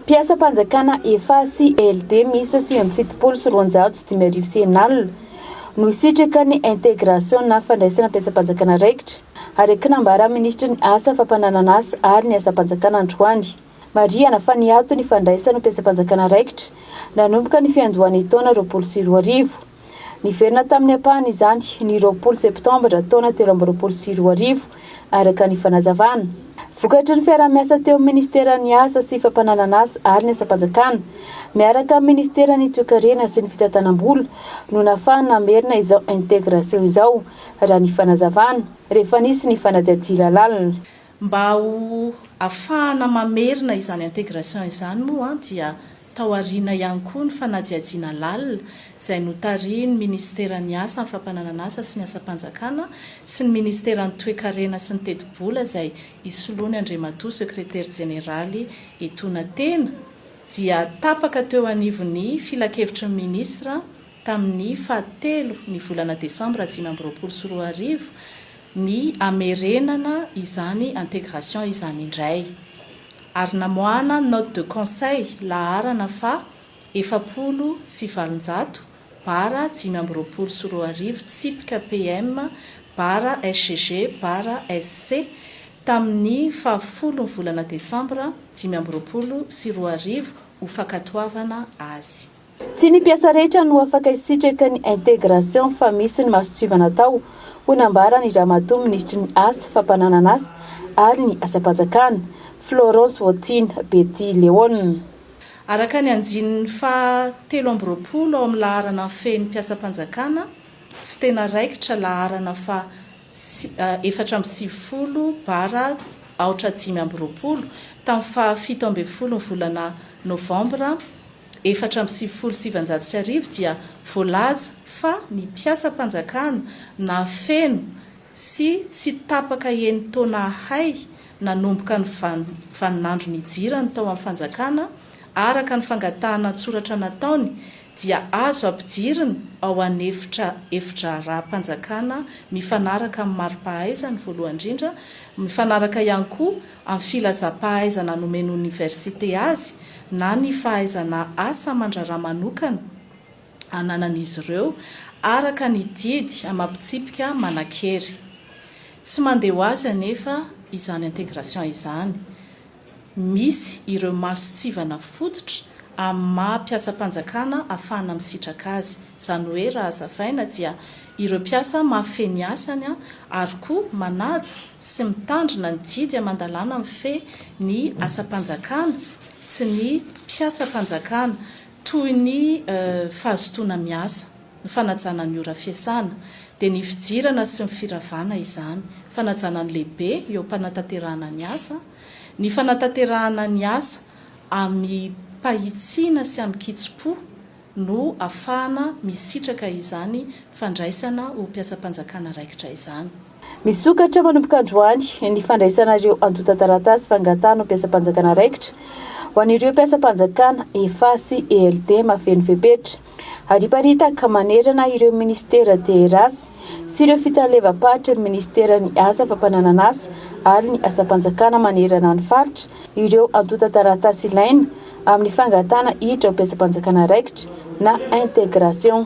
Mpiasam-panjakana efa CLD miisa sivy amby fitopolo sy roanjato sy dimy arivo sy enina alina no hisitraka ny intégration na fandraisana mpiasam-panjakana raikitra, araka ny nambaran'ny minisitry ny Asa, fampananan'asa ary ny asam-panjakana androany. Marihana fa niato ny fandraisana mpiasam-panjakana raikitra nanomboka ny fiandohan'ny taona roapolo sy roa arivo. Niverina tamin'ny ampahany izany ny roapolo Septambra taona telo amby roapolo sy roa arivo, araka ny fanazavana. Vokatry ny fiaraha-miasa teo amin'ny Minisiteran'ny Asa sy Fampananan'asa ary ny Asam-panjakana, miaraka amin'ny Minisiteran'ny Toekarena sy ny Fitantanam-bola, no nahafahana namerina izao intégration izao, raha ny fanazavana, rehefa nisy ny fanadihadiana lalina. Mba ho afahana mamerina izany intégration izany moa dia. Tao aoriana ihany koa ny fanadihadiana lalina izay notarihin'ny minisiteran'ny Asa, ny fampananan'asa sy ny asam-panjakana sy ny minisiteran'ny Toekarena sy ny tetibola izay isoloany Andriamatoa Sekretera Jeneraly Etona tena dia tapaka teo anivon'ny Filankevitry ny Minisitra tamin'ny faha telo ny volana desambra dimy amby roapolo sy roa arivo ny hamerenana izany intégration izany indray ary namoahana note de conseil laharana faha efapolo sy valonjato bara dimy amby roapolo sy roa arivo tsipika PM bara SGG bara SC tamin'ny faha folon'ny volana desambra dimy amby roapolo sy roa arivo ho fankatoavana azy. Tsy ny mpiasa rehetra no afaka hisitraka ny intégration fa misy ny masontsivana atao, hoy nambaran'ny Ramatoa Minisitry ny Asa, Fampananan'asa ary ny Asam-panjakana, Florence Wautine Betty Léone. Araka ny andininy faha telo amby roapolo ao amin'ny laharana fehiny mpiasam-panjakana tsy tena raikitra, laharana faha efatra amby sivifolo bara aotra dimy amby roapolo, tamin'ny faha fito ambin'ny folo ny volana novambra efatra amby sivifolo sy sivinjato sy arivo dia voalaza fa ny mpiasam-panjakana nahafeno sy tsy tapaka enin-taona ahay nanomboka ny vaninandro nijirany tao amin'ny fanjakana araka ny fangatahana an-tsoratra nataony dia azo ampidirina ao an'efitra efidraharaham-panjakana mifanaraka amin'ny mari-pahaizany voalohany indrindra mifanaraka ihany koa amin'ny filazam-pahaizana nomen'ny oniversite azy na ny fahaizana asa aman-draharaha manokana ananan'izy ireo araka ny didy amam-pitsipika manan-kery. Tsy mandeha ho azy anefa izany intégration izany. Misy ireo masontsivana fototra amin'ny maha mpiasam-panjakana afahana misitraka azy. Izany hoe raha hazavaina dia Ireo mpiasa mahafehy ny asany ary koa manaja sy mitandrina ny didy aman-dalàna mifehy ny asam-panjakana sy ny mpiasam-panjakana toy ny fahazotoana miasa, ny fanajana ny ora fiasana, dia ny fijirana sy ny firavana izany, fanajana ny lehibe eo am-panatanterahana ny asa, ny fanatanterahana ny asa amim-pahitsiana sy amin-kitsim-po, no afahana misitraka izany fandraisana ho mpiasam-panjakana raikitra izany. Misokatra manomboka androany ny fandraisana ireo antontan-taratasy fangatahana ho mpiasam-panjakana raikitra ho an'ireo mpiasam-panjakana efa sy ELD mahafeno fepetra. Hariparitaka manerana ireo minisitera DRA sy ireo fitalevam-paritry ny minisiteran'ny Asa fampananan'asa ary ny asam-panjakana manerana ny faritra ireo antontan-taratasy ilaina amin'ny fangatahana hiditra ho betsi-panjakana raikitra na intégration.